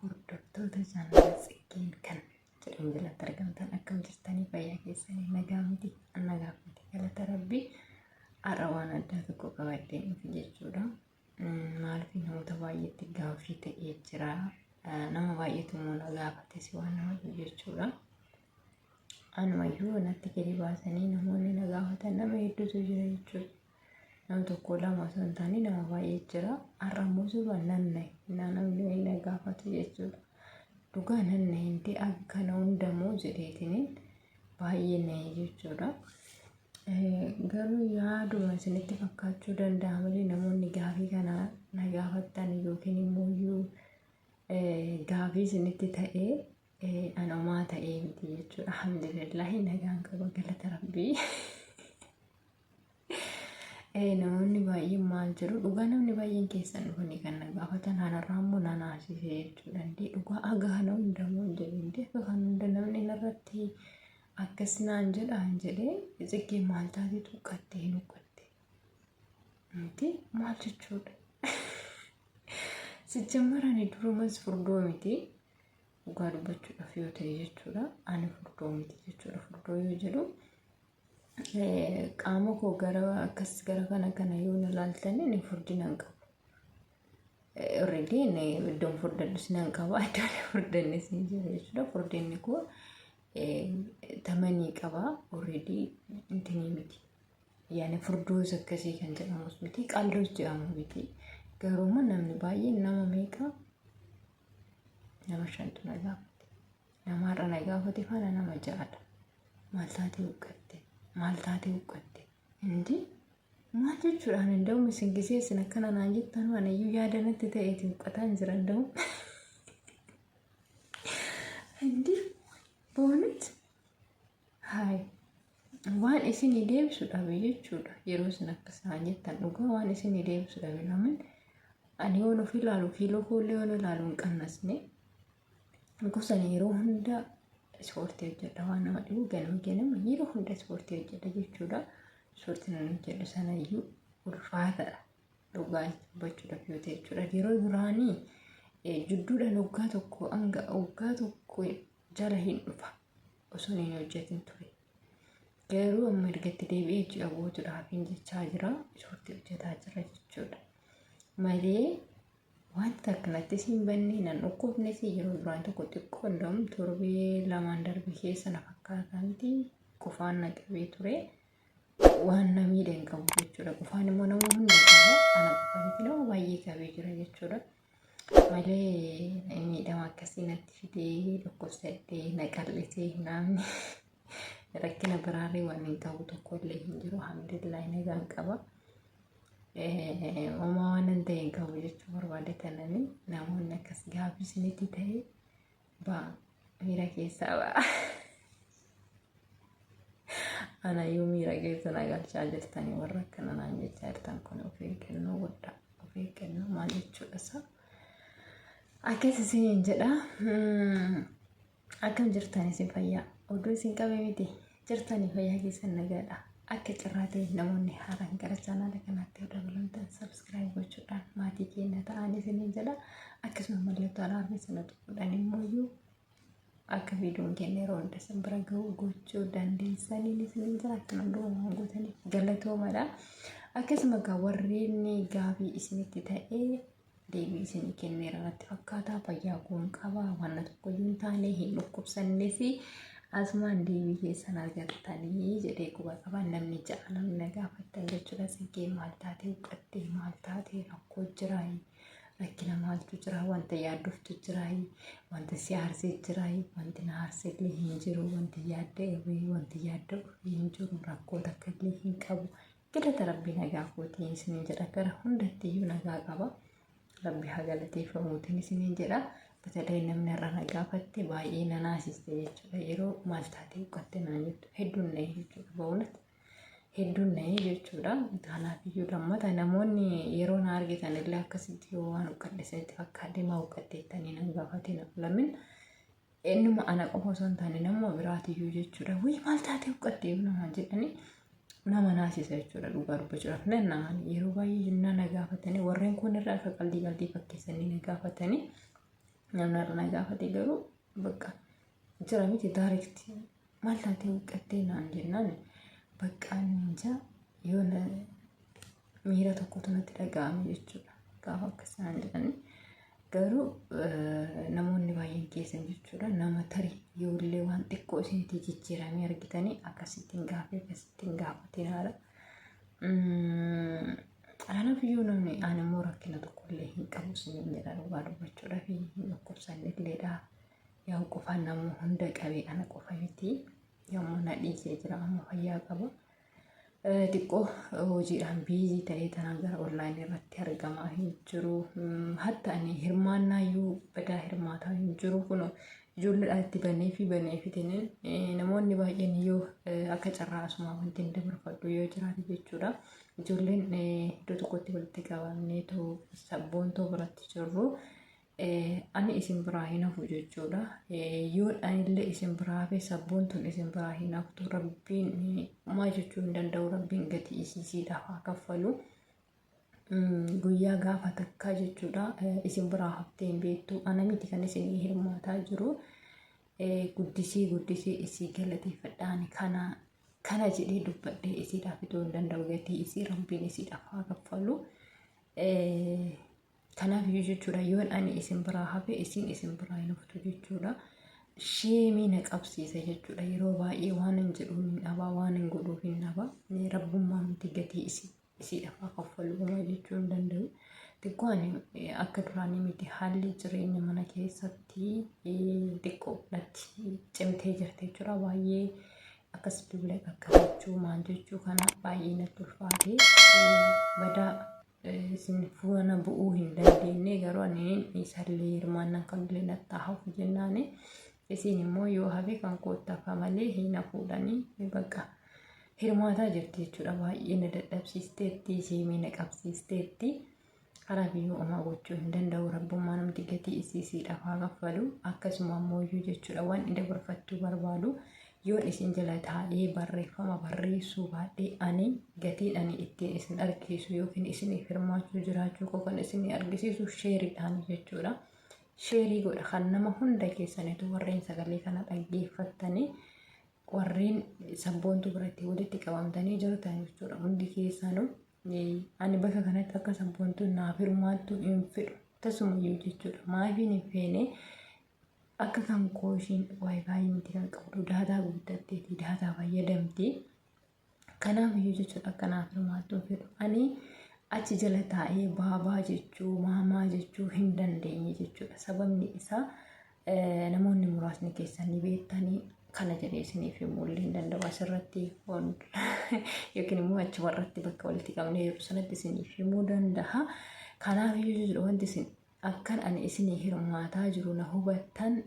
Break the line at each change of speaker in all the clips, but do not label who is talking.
hordoftoota jaalala tsiggeen kan
jedhamu jalatti argamtan akkam jirtanii fayyaa keessanii nagaa miti nagaa miti galata rabbii har'a waan addaa tokko qabadhee dhufe jechuudha. Maaliif namoota baay'eetti gaaffii ta'ee jira. Nama baay'eetu immoo na gaafates waan nama jechuudha. Anumayyuu kanatti gadi baasanii namoonni na gaafatan nama hedduutu jira jechuudha. Nama tokko lama osoo hin taane nama baay'ee jira. Har'a immoo suba nan nahe. Innaa namni wayii na gaafatu jechuudha. Dhugaa nan nahe inti akka kana hundamoo jedheetiniin baay'ee nahe jechuudha. Eh, Garuu yaaduma isinitti fakkaachuu danda'a malee namoonni gaafii kana na gaafattan yookiin immoo iyyuu eh, gaafii isinitti ta'ee Anomaa ta'ee miti jechuudha. Alhamdulillahi nagaan qaba galata rabbii. Namoonni baay'een maal jedhu dhugaa namni baay'een keessan dhufanii kan na gaafatan hanarraa immoo na naasisee jechuudha. Indee dhugaa hagaa hana hunda moo jedhu indee akka kan hunda namni narratti akkas naan jedhaan jedhee xiqqee maal taatee tuqqattee hin uqqatte. Miti maal jechuudha. Sijjammarani durumas furdoo miti. dhugaa dubbachuudhaaf yoo ta'e jechuudha ani furdoo miti jechuudha furdoo yoo jedhu qaama koo gara akkas gara kana kana yoo na laaltanii ni furdinaan qabu. Alreedii inni iddoon furdadhus nan qaba iddoon furdannis ni jira jechuudha furdinni koo tamanii qaba alreedii intinii miti. Yaani furdoos akkasii kan jedhamus miti qaldoos jedhamu miti garuu namni baay'een nama meeqa nama shantu na gaafate namaarra na gaafate faana nama ja'adha maal taatee huqqatte maal taatee huqqatte hindi maal jechuudhaan danda'u isin gisee isin akkana naan jettan waan iyyuu yaada natti ta'eeti huqqataan jira danda'u hindi boonet Haay. Waan isinii deebisu dhabe jechuudha. Yeroo isin akka isaan jettan dhugaa waan isinii deebisu dhabe lamin ani yoon of ilaalu kiiloo koollee yoon ilaalu hin qannasne gosan yeroo hunda ispoortii hojjedha waan nama dhibu ganama ganama yeroo hunda ispoortii hojjedha jechuudha. Ispoortiin ani hojjedhu sanayyuu ulfaataadha. Dhugaa dubbachuudhaaf yoo ta'e jechuudha. Yeroo duraanii jidduudhaan waggaa tokko hanga waggaa tokko jala hin dhufa. osoon hin hojjetin ture. Garuu amma ergatti deebi'ee ji'a guutuudhaaf hin jechaa jira. Ispoortii hojjetaa jira jechuudha. Malee wanta akkanattis hin banne nan dhukkubnes yeroo duraan tokko xiqqoo hundam torbee lamaan darbe keessa na fakkaataa miti qufaan na qabee ture. Waan na miidhe hin qabu jechuudha. Qufaan immoo nama hunda qaba. Ana qofaa miti nama baay'ee qabee jira jechuudha. malee miidhama akkasii natti fidee dhukkubsadhee na qal'isee naamni rakkina biraallee waan hin qabu tokkollee hin jiru alhamdulillahi nagaan qaba. Uumaa waan hin ta'e hin qabu jechuu barbaade tananii namoonni akkas gaafisinitti ta'e Baa miira keessaa baa. Ana yoo miira keessa na galchaa jirtanii warra akkana naan jechaa jirtan kun of eeggannoo guddaa of eeggannoo maal jechuudha isaa. Akkas isiniin jedha. Akkam jirtan isin fayyaa? Oduu isin qabe miti. jirtanii fayyaa keessan nagaadha. Akka carraa ta'e namoonni haaraan gara chaanaala kanaatti yoo dabalamtan sabskiraayib gochuudhaan maatii keenya ta'an isiniin jedha. Akkasuma mallattoo alaarmii sana tuquudhaan immoo iyyuu akka viidiyoon keenya yeroo hunda isin bira ga'u gochuu dandeessaniin isiniin jira. Akkuma durumaan gootaniif galatoomadha. Akkasuma egaa warreen gaafii isinitti ta'ee deebii isinii kenneera natti fakkaataa fayyaa koon qabaa wanna tokko hin taane hin dhukkubsannee fi asumaan deebii keessan argattanii jedhee quba qaba namni ja'a namni na gaafattan jechuudha siggee maal taatee huqqattee maal taatee rakkoo jiraayi rakkina maaltu jira wanta yaaddoftu jiraayi wanta si aarsee jiraayi wanti na aarsee illee hin jiru wanti yaadda irree wanti yaadda ofii hin jiru rakkoo takka illee hin qabu Galata Rabbii nagaa kootiin isiniin jedha gara hundatti iyyuu nagaa qaba. Rabbi haa galateeffamuutiin isiniin jedha. Batalee namni irra na gaafatte baay'ee na naasiste jechuudha. Yeroo maal taatee uqqatte naan jettu hedduun na'ee jechuudha. Ba'uunatti hedduun na'ee jechuudha. Kanaaf iyyuu lammata namoonni yeroo na argitan illee akkasitti yoo waan uqqadhe isinitti fakkaate maa uqqatte jettanii nan gaafatina. Lamin Eenyuma ana qofa osoo hin taane nama biraatiyyuu jechuudha. Wayii maal taatee huqqattee namaan jedhanii nama naasisa jechuudha dhugaa dubbachuudhaaf nan naman yeroo baay'ee jennaa na gaafatanii warreen kun irra akka qaldii qaldii fakkeessanii na gaafatanii namni irra na gaafate garuu bakka jira miti daarikti maal taatee huqqattee naan jennaan baqqaan ninja yoo na miira tokkotu natti dhaga'ame jechuudha gaafa akkas naan jedhanii garuu namoonni baay'een keessan jechuudha nama tarii yoollee waan xiqqoo isinitti jijjiiramee argitanii akkasittiin gaafii akkasittiin gaafatiin haala. Anaaf iyyuu namni ani immoo rakkina tokkollee hin qabu isiniin jedha dhugaa dubbachuudhaaf hin dhukkubsanne illeedha. Yoon qofa nama hunda qabee ana qofa miti. Yommuu na dhiisee jira amma fayyaa qaba. Xiqqoo hojiidhaan biizii ta'ee tanaan gara onlaayinii irratti argamaa hin jiru. Hatta ani hirmaannaa iyyuu badaa hirmaataa hin jiru. Kun ijoolleedhaan itti banee fi banee fitiniin namoonni baay'een yoo akka carraa asumaa wanti hin dabarfadhu yoo jiraate jechuudha. Ijoolleen iddoo tokkotti walitti qabamnee too sabboontoo biratti jirru. Ani isin biraa hin hafu jechuudha. Yoon anillee isin biraa hafe sabboontuun isin biraa hin haftu. Rabbiin homaa jechuu hin danda'u. Rabbiin gatii isiisiidhaaf haa kaffalu. Guyyaa gaafa takkaa jechuudha. Isin biraa haftee hin beektu. Ana miti kan isin hirmaataa jiru. Guddisii guddisii isii galateeffadhaan kana kana jedhee dubbadhee isiidhaaf itoo hin danda'u gatii isii rabbiin isiidhaaf haa kaffalu. Kanaaf iyyuu jechuudha yoon ani isin biraa hafe isin isin biraa hin haftu jechuudha. Sheemii na qabsiisa jechuudha yeroo baay'ee waan hin jedhuun hin dhabaa waan hin godhuuf hin dhabaa rabbummaa miti gatii isii isiidhaaf haa kaffalu homaa jechuu hin danda'u. Xiqqoo ani akka duraanii miti haalli jireenya mana keessatti xiqqoo natti cimtee jirti jechuudha baay'ee akkas duula qaqqabachuu maal jechuu kana baay'ee natti ulfaatee badaa isin fuana bu'uu hin dandeenye garuu ani isallee hirmaannan kan illee nattaa hafu jennaani isin immoo yoo hafe kan koottaa ka malee hin hafuudhani baqa hirmaataa jirti jechuudha baay'ee na dadhabsiisteetti siimii na qabsiisteetti karaa biyyuu omaa gochuu hin danda'u rabbummaa namti gatii isiisii dhafaa kaffalu akkasuma ammoo iyyuu jechuudha waan dabarfachuu barbaadu Yoon isin jala taa'ee barreeffama barreessuu baadhee ani gatiin ani ittiin isin argisiisu yookiin isiniif hirmaachuu jiraachuu koo kan isin argisiisu sheeriidhaan jechuudha. Sheerii godha kan nama hunda keessanitu warreen sagalee kana dhaggeeffattanii warreen sabboontuu biratti walitti qabamtanii jirtan jechuudha. Hundi keessanuu ani bakka kanatti akka sabboontuun naaf hirmaattu hin fedhu. Tasumayyuu jechuudha. Maafiin hin feene akka kan koo ishiin waayifaayi miti kan qabdu daataa guuttatteeti daataa fayyadamti kanaaf iyyuu jechuudha kanaaf hirmaachuu fedhu ani achi jala taa'ee baabaa jechuu maamaa jechuu hin dandeenye jechuudha sababni isaa namoonni muraasni keessan ni beektanii kana jedhee isiniif himuu illee hin danda'u asirratti yookiin immoo achi warratti bakka walitti qabnee yeroo sanatti isiniif himuu danda'a kanaaf iyyuu jechuudha wanti isin Akkan ani isinii hirmaataa jiru na hubattan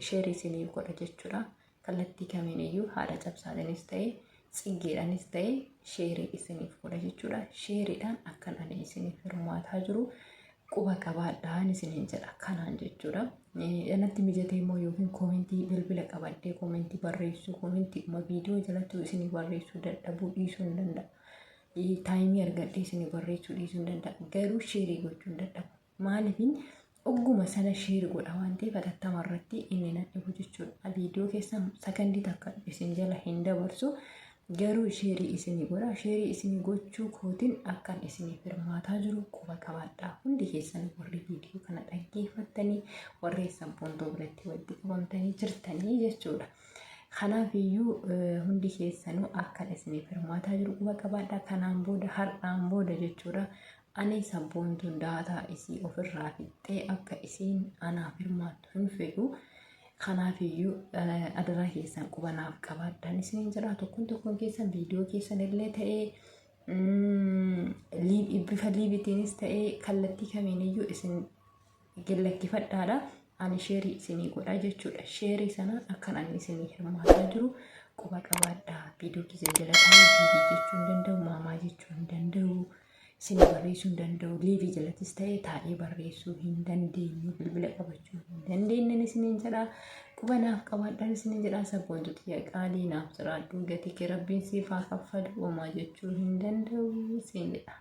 share isiniif godha jechuudha. Kallattii kamiin iyyuu haadha cabsaadhanis ta'e tsiggeedhanis ta'e sheerii isiniif godha jechuudha. Sheeriidhaan akkan ani isiniif hirmaataa jiru quba qabaadhaan isiniin jedha kanaan jechuudha. Anatti mijatee immoo yookiin koomentii bilbila qabadhee koomentii barreessuu koomentii dhuma viidiyoo jalattuu isinii barreessuu dadhabuu dhiisuu hin danda'a. taayimii argadhee isin barreessuu dhiisuu hin danda'a garuu sheerii gochuu hin dadhabu maaliifin ogguma sana sheeri godha waan ta'eef hatattama irratti inni na dhibu jechuudha viidiyoo keessa sakandii takka isin jala hin dabarsu garuu sheerii isin godha sheerii isin gochuu kootiin akkan isiniif hirmaataa jiru quba qabaadha hundi keessan warri viidiyoo kana dhaggeeffattanii warri sabbontoo biratti walitti qabamtanii jirtanii jechuudha. Kanaaf iyyuu hundi keessanuu akkan isiniif hirmaataa jiru quba qabaadha. Kanaan booda har'aan booda jechuudha. Ani sabboontuun daataa isii ofirraa fixxee akka isiin anaaf hirmaattu hin fedhu. Kanaaf iyyuu adaraa keessan quba naaf qabaadhaan isiniin jira. Tokkoon tokkoon keessan viidiyoo keessan illee ta'ee bifa liibitiinis ta'ee kallattii kamiin iyyuu isin gallakkifadhaadha ani sheerii isinii godha jechuudha sheerii sana akkan ani isinii hirmaataa jiru quba qabaadha viidiyoo kiyya jala taa'ee viidiyoo jechuu hin danda'u maamaa jechuu hin danda'u isinii barreessuu hin danda'u liivii jalattis ta'ee taa'ee barreessuu hin dandeenyu bilbila qabachuu hin dandeenyen isiniin jedha quba naaf qabaadhaan isiniin jedha sabboontu xiyya qaalii naaf jiraadhu gatii kee rabbiin siif haa kaffalu homaa jechuu hin danda'u isin jedha.